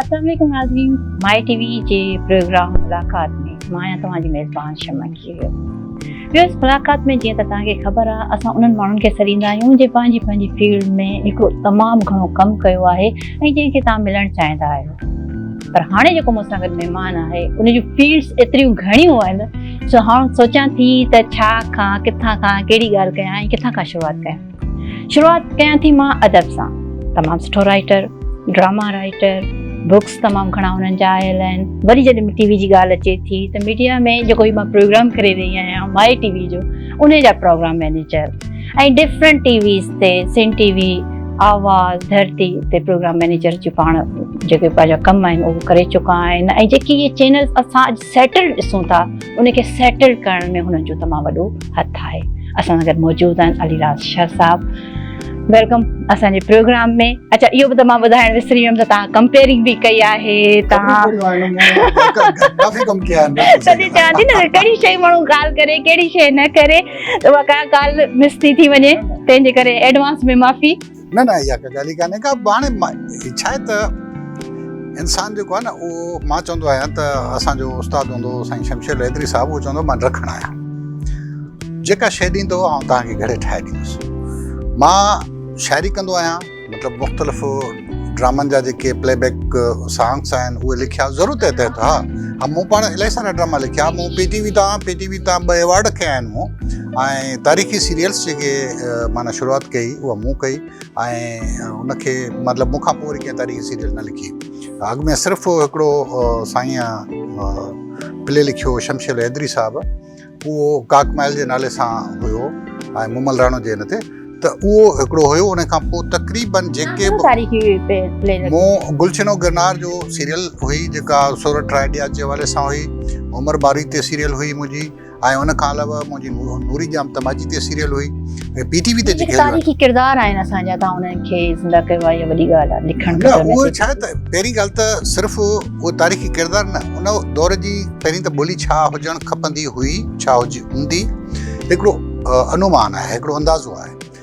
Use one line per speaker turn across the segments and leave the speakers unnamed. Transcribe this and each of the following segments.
السلام عليڪم ناظرين مائي ٽي وي جي پروگرام ملاقات ۾ مان آهيان توهان جي ميزبان شمع کيريو ويوس ملاقات ۾ جيئن ته توهان کي خبر آهي اسان انهن ماڻهن کي سڏيندا آهيون جن پنهنجي پنهنجي فيلڊ ۾ هڪڙو تمام گهڻو ڪم ڪيو آهي ۽ جنهن کي توهان ملڻ چاهيندا آهيو پر هاڻي جيڪو مون سان گڏ مهمان آهي ان جون فيلڊس ايتريون گهڻيون آهن سو هاڻ سوچان ٿي ته ڇا کان ڪٿان کان ڪهڙي ڳالهه ڪيان ۽ ڪٿان کان شروعات ڪيان شروعات ڪيان ٿي مان ادب سان تمام سٺو رائٽر ڊراما رائٽر بڪس تمام گھڻا انهن جا آيل آهن وري جڏهن ٽي وي جي ڳالهه اچي ٿي ته ميڊيا ۾ جيڪو هي مان پروگرام ڪري رهي آهيان مائي ٽي وي جو ان جا program manager ۽ different T Vs تي سين ٽي وي آواز ڌرتي تي پروگرام مينيجر جي پاڻ جيڪي پنهنجا ڪم آهن اهو ڪري چڪا آهن ۽ جيڪي هي چينل اسان سيٽل ڏسون ٿا ان کي سيٽل ڪرڻ ۾ هنن جو تمام وڏو هٿ آهي اسان سان گڏ موجود آهن علي راز شاهه صاحب ويلڪم اسان جي پروگرام ۾ اچھا اهو به ته مان ٻڌائڻ وسري ويم ته تان ڪمپيئرنگ به ڪئي آهي تان ڪافي
ڪم ڪيا آهن تڏهن چان ٿي نه
ڪهڙي شيء ماڻهو ڳالهه ڪري ڪهڙي شيء نه ڪري ته اها ڪا ڳالهه مس ٿي ٿي وڃي تنهن جي ڪري ايڊوانس ۾ معافي نه نه اها ڪا
ڳالهه ئي ڪانهي ڪا هاڻي هي ڇا آهي ته انسان جيڪو آهي نه اهو مان چوندو آهيان ته اسانجو استاد هوندو هو سائين شمشير ليدري صاحب اهو چوندو هو مان رکڻ آهيان جيڪا شيء ڏيندو هو آئون توهان کي گهڙي ٺاهي ڏيندس مان شاعري ڪندو آهيان مطلب مختلف ڊرامن جا جيڪي پلي بيڪ سانگس آهن اهي لکيا ضرور تحت تحت ها مون پاڻ الاهي سارا ڊراما لکيا مون پي ٽي وي تان پي ٽي وي تان ٻه ايوارڊ کيا آهن مون ۽ تاريخي سيريلس جيڪي معنيٰ شروعات ڪئي اها مون ڪئي ۽ ان کي مطلب مون کان پوء وري ڪنهن تاريخي سيريل نه لکي اڳ ۾ صرف هڪڙو سائين پلي لکيو شمشير حيدري صاحب اهو ڪاڪ مائل جي نالي سان هيو ۽ مومل راڻو جي هن تي ته اهو هڪڙو هيو ان کان پوء تقريبن جيڪي مون گلشنو گرنار جو سيريل هئي جيڪا سورٺ رائڊيا جي حوالي سان هئي عمر باري تي سيريل هئي منهنجي ۽ ان کان علاوه منهنجي نوري جام تماچي تي سيريل هئي ۽ پي ٽي وي تي جيڪي تاريخي ڪردار آهن
اسان جا تان انهن کي زنده ڪيو آهي وڏي ڳالهه آهي لکڻ ته اهو ڇا ته
پهرين ڳالهه ته صرف اهو تاريخي ڪردار نه ان دور جي پهرين ته ٻولي ڇا هجڻ کپندي هئي ڇا هجي هوندي هڪڙو انومان آهي هڪڙو اندازو آهي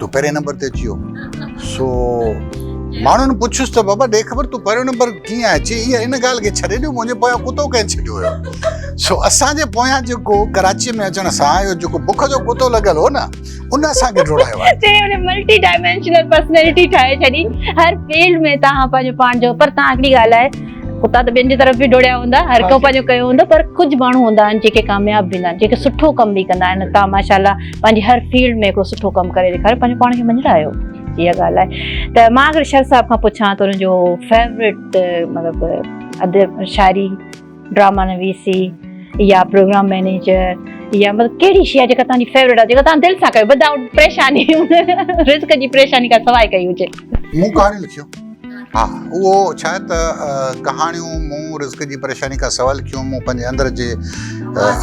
تون پهرين نمبر تي اچي ويو سو ماڻهن پڇيس ته بابا ڏي خبر تون پهريون نمبر ڪيئن آهي چي هي ان ڳالهه کي ڇڏي ڏيو منهنجي پويان ڪتو ڪنهن ڇڏيو هيو سو اسان جي پويان جيڪو ڪراچي ۾ اچڻ سان اهو جيڪو بک جو ڪتو لڳل هو نه ان اسان کي ڊوڙايو آهي چي هن ملٽي ڊائمينشنل
پرسنالٽي ٺاهي ڇڏي هر فيلڊ ۾ توهان پنهنجو پاڻ جو پر توهان هڪڙي ڳالهه آهي ڪتا ته ٻين جي طرف به ڊوڙيا هوندا هر ڪو پنهنجو ڪيو هوندو پر ڪجهه ماڻهو هوندا آهن جيڪي ڪامياب به هوندا آهن جيڪي سٺو ڪم به ڪندا آهن تان ماشاء الله پنهنجي هر فيلڊ ۾ هڪڙو سٺو ڪم ڪري ڏيکاريو پنهنجو پاڻ کي منجهه آيو اها ڳالهه آهي ته مان اگر شر صاحب کان پڇان ته ان جو فيوريٽ مطلب ادب شاعري ڊراما نويسي يا پروگرام مينيجر يا مطلب ڪهڙي شي آهي جيڪا تنهنجي فيوريٽ آهي جيڪا تنهن دل سان ڪيو ودائوٽ پريشاني رزق جي پريشاني کان سواء ڪئي هجي مون ڪهاڻي لکيو
ها اهو ڇا ته ڪهاڻيون مون رزق جي پريشاني کان سوال ڪيون مون پنهنجي اندر جي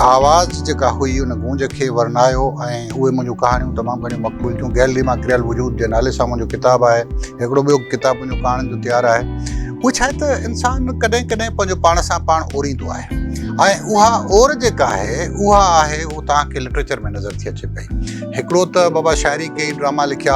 آواز جيڪا هئي ان گونج کي ورنايو ۽ اهي منهنجون ڪهاڻيون تمام گهڻيون مقبول ٿيون گيلري مان ڪريل وجود جي نالي سان منهنجو ڪتاب آهي هڪڙو ٻيو ڪتاب منهنجو ڪهاڻين جو تيار آهي اهو ڇا ته انسان ڪڏهن ڪڏهن پنهنجو پاڻ سان پاڻ اوريندو آهي ۽ اها اور جيڪا آهي اها آهي اها تان کي لٽريچر ۾ نظر ٿي اچي پئي هڪڙو ته بابا شاعري ڪئي ڊراما لکيا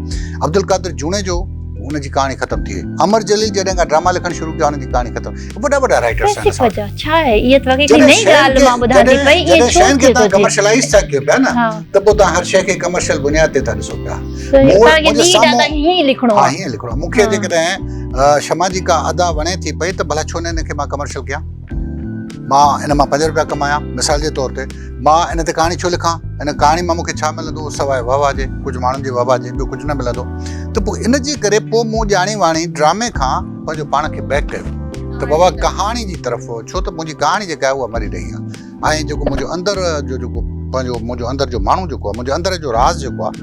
عبدالقادر جوڻيجو ان جي ڪهاڻي ختم ٿي وئي امر جليل جڏهن کان ڊراما لکڻ شروع ڪيا ان جي ڪهاڻي ختم وڏا وڏا رائٽرز آهن اسان وٽ ڇا
آهي اهي ته وڳي ڪي نئين ڳالهه مان ٻڌان ٿي پئي اهي ڇو ٿي ٿو ٿي ڪمرشلائز
ٿا
ڪيو
پيا
نه
ته پوء تان هر شيء کي ڪمرشل بنياد تي ٿا ڏسو پيا مون جو سامو
هي لکڻو آهي هي لکڻو مون کي جي
ڪڏهن شما جي ڪا ادا وڻي ٿي پئي ته ڀلا ڇو نه ان کي مان ڪمرشل ڪيان مان ان مان پنج روپيا ڪمايا مثال جي طور تي مان ان تي ڪهاڻي ڇو لکان؟ ان ڪهاڻي مان مون کي ڇا ملندو سواء وهواه جي؟ ڪجهه ماڻهن جي وهواه جي ٻيو ڪجهه نه ملندو ته پوء ان جي ڪري پوء مون ڄاڻي واڻي ڊرامي کان پنهنجو پاڻ کي بيڪ ڪيو ته بابا ڪهاڻي جي طرف ڇو ته منهنجي ڪهاڻي جيڪا آهي اها مري رهي آهي ۽ جيڪو منهنجو اندر جو جيڪو پنهنجو منهنجو اندر جو ماڻهو جيڪو آهي منهنجو اندر جو راز جيڪو آهي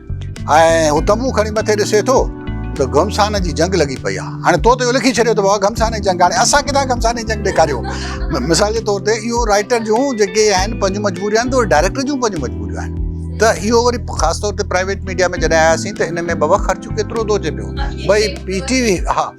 ۽ هو تنبو کڻي مٿي ڏسي ٿو ته گهمسان جي جنگ لڳي پئي آهي. هاڻي تو ته اهو لکي ڇڏيو ته بابا گهمسان جي جنگ، هاڻي اسان ڪٿان گهمسان جي جنگ ڏيکاريو. مثال جي طور تي اهو رائيٽر جون جيڪي آهن پنهنجون مجبوريون آهن ته اهي ڊائريڪٽر جون پنهنجون مجبوريون آهن. ته اهو وري خاص طور تي پرائيويٽ ميڊيا ۾ جڏهن آياسين ته ان ۾ بابا خرچ ڪيترو ٿو اچي پيو. ڀئي پي ٽي وي ها.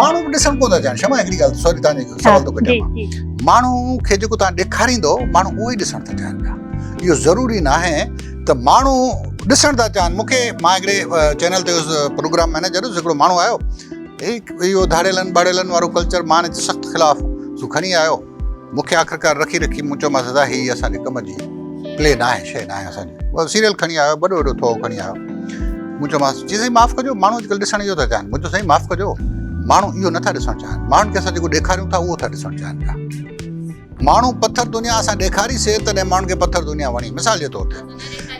ماڻهو به ڏسڻ ڪونه ٿا
چاهن شما هڪڙي ڳالهه سوري تان سوال ٿو ڪٽيان ماڻهو کي جيڪو تان ڏيکاريندو ماڻهو اهو ئي ڏسڻ ٿا چاهن پيا اهو ضروري ناهي ته ماڻهو ڏسڻ ٿا چاهن مون کي ماء هڪڙي چينل تي پروگرام مينيجر هيس هڪڙو ماڻهو آيو اهو ڌاڙيلن ٻاڙيلن وارو ڪلچر ماڻهن جي سخت خلاف سو کڻي آيو مون کي آخرڪار رکي رکي مون چيومانس ادا هي اسان جي ڪم جي پلي ناهي شيء ناهي اسان جي هو سيريل کڻي آيو وڏو وڏو ٿوهو کڻي آيو مون چيومانس چي سائين معاف ڪجو ماڻهو اڄڪلهه ڏسڻ اهو ٿا چاهن مون چيو سائين معاف ڪجو ماڻهو اهو نٿا ڏسڻ چاهن ماڻهن کي اسان جيڪو ڏيکاريون ٿا اهو ٿا ڏسڻ چاهن پيا ماڻهو پٿر دنيا اسان ڏيکاريسي تڏهن ماڻهن کي پٿر دنيا وڻي مثال جي طور تي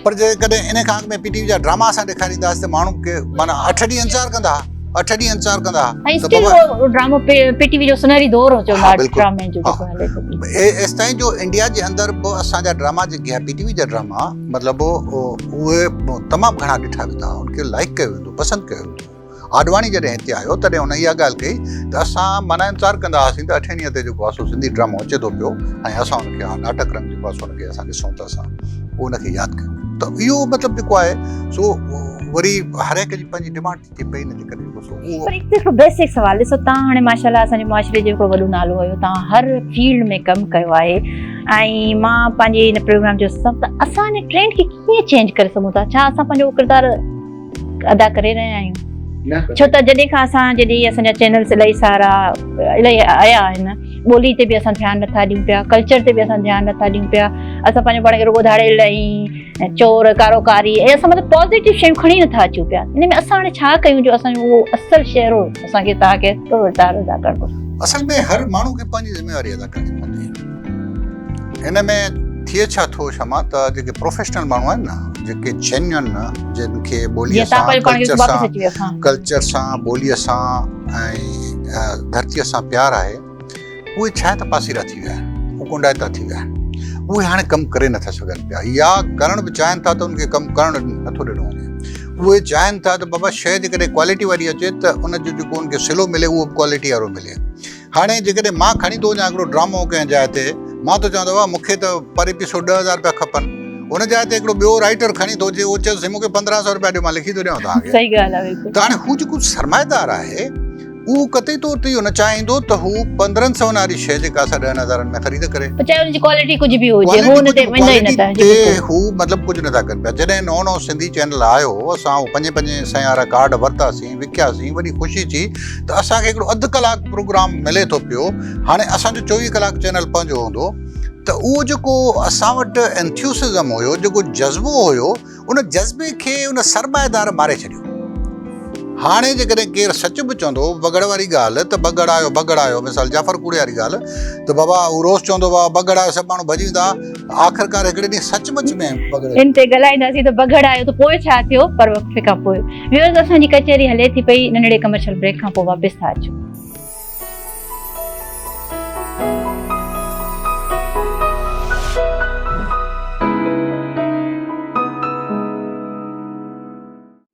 پر جيڪڏهن ان کان اڳ ۾ پي ٽي وي جا ڊراما اسان ڏيکارينداس ته ماڻهو ڪي معنيٰ اٺ ڏينهن انتظار ڪندا اٺ ڏينهن انتظار ڪندا هئا ڊرامو
پي ٽي وي جو سنهري دور هو چوندا ڊرامي جو جيڪو هلي ٿو ايستائين جو انڊيا
جي اندر به اسان جا ڊراما جيڪي پي ٽي وي جا ڊراما مطلب اهي تمام گهڻا ڏٺا ويندا ان کي لائڪ ڪيو ويندو پسند ڪيو ويندو آڏواڻي جڏهن هتي آيو تڏهن هن اها ڳالهه ڪئي ته اسان معنيٰ انتظار ڪندا هئاسين ته اٺين ڏينهن تي جيڪو آسو سنڌي ڊرامو اچي ٿو پيو ۽ اسان ان کي اها ناٽڪ رنگ جيڪو آسو ان کي اسان ڏسون ته اسان پوء ان کي ياد ڪيون ته اهو مطلب جيڪو آهي سو وري هر هڪ جي پنهنجي ڊمانڊ ٿي پئي ان جي ڪري جيڪو سو اهو پر هڪ هڪ
بيسڪ سوال ڏسو تان هاڻي ماشاءالله اسان جي معاشري جو هڪڙو وڏو نالو هيو تان هر فيلڊ ۾ ڪم ڪيو آهي ۽ مان پنهنجي ان پروگرام جو سب اسان جي ٽرينڊ کي ڪيئن چينج ڪري سگهون ٿا ڇا اسان پنهنجو ڪردار ادا ڪري رهيا آهيون ڇو ته جڏهن کان اسان جڏهن اسان جا چينلز الائي سارا الائي آيا آهن ٻولي تي به اسان ڌيان نٿا ڏيون پيا ڪلچر تي به اسان ڌيان نٿا ڏيون پيا اسان پنهنجو پاڻ کي رڳو ڌاڙيل ۽ چور ڪارو ڪاري ۽ اسان مطلب پازيٽو شيون کڻي نٿا اچون پيا ان ۾ اسان هاڻي ڇا ڪيون جو اسان اهو اصل شهرو اسان کي تاڪي ڪرڻ گهرجي اصل ۾ هر ماڻهو کي پنهنجي ذميواري ادا ڪرڻي پوندي
هن ۾ ٿئي ڇا ٿو شمع ته جيڪي پروفيشنل ماڻهو آهن نه جيڪي جينيون جن کي ٻولي سان ڪلچر سان ڪلچر سان ٻولي سان ۽ ڌرتي سان پيار آهي اهي ڇا ته پاسيرا ٿي ويا اهي ڪنڊائتا ٿي ويا اهي هاڻي ڪم ڪري نٿا سگهن پيا يا ڪرڻ به چاهين ٿا ته ان کي ڪم ڪرڻ نٿو ڏنو وڃي اهي چاهين ٿا ته بابا شيء جيڪڏهن ڪوالٽي واري اچي ته ان جو جيڪو ان کي سلو ملي اهو ڪوالٽي وارو ملي هاڻي جيڪڏهن مان کڻي ٿو وڃان هڪڙو ڊرامو ڪنهن جاء تي، مان ٿو چوان ته واهه مون کي ته پر ايپيسوڊ ڏهه هزار رپيا کپن. ان جاء تي هڪڙو ٻيو رائيٽر کڻي ٿو اچي، اهو چئي ٿو سائين مون کي پندرهن سؤ رپيا ڏيو مان لکي ٿو ڏيانو توهان کي. صحيح ڳالهه آهي بلڪل. ته هاڻي
هو جيڪو
سرمائيدار آهي اهو قطعي طور تي اهو نه چاهيندو ته هو پندرهن سون واري شيء جيڪا اسان ڏهن هزارن ۾ خريد ڪري. پوء
چاهي ان جي ڪوالٽي ڪجهه به هجي هو ان تي ويندا ئي نٿا. جي بلڪل. هو مطلب
ڪجهه نٿا ڪن پيا. جڏهن نئون نئون سنڌي چينل آيو اسان هو پنجين پنجين سئين وارا ڪارڊ ورتاسين. ۽ وکياسين وڏي خوشي ٿي ته اسان کي هڪڙو اڌ ڪلاڪ پروگرام ملي ٿو پيو هاڻي اسان جو چوويهه ڪلاڪ چينل پنهنجو هوندو ته اهو جيڪو اسان وٽ انٿيوسزم هيو جيڪو جذبو هيو ان جذبي کي ان سرمائيدار ماري ڇڏيو هاڻي جيڪڏهن ڪير سچ به چوندو بگڙ واري ڳالهه ته بگڙ آيو بگڙ آيو مثال جعفر ڪوڙي واري ڳالهه ته بابا هو روز چوندو هو بگڙ آيو سڀ ماڻهو ڀڄي ويندا آخرڪار هڪڙي ڏينهن سچ مچ ۾ بگڙ ان تي ڳالهائينداسين ته
بگڙ آيو ته پوء ڇا ٿيو پر وقفي کان پوء ويورز اسان جي ڪچهري هلي ٿي پئي ننڍڙي ڪمرشل بريڪ کان پوء واپس ٿا اچون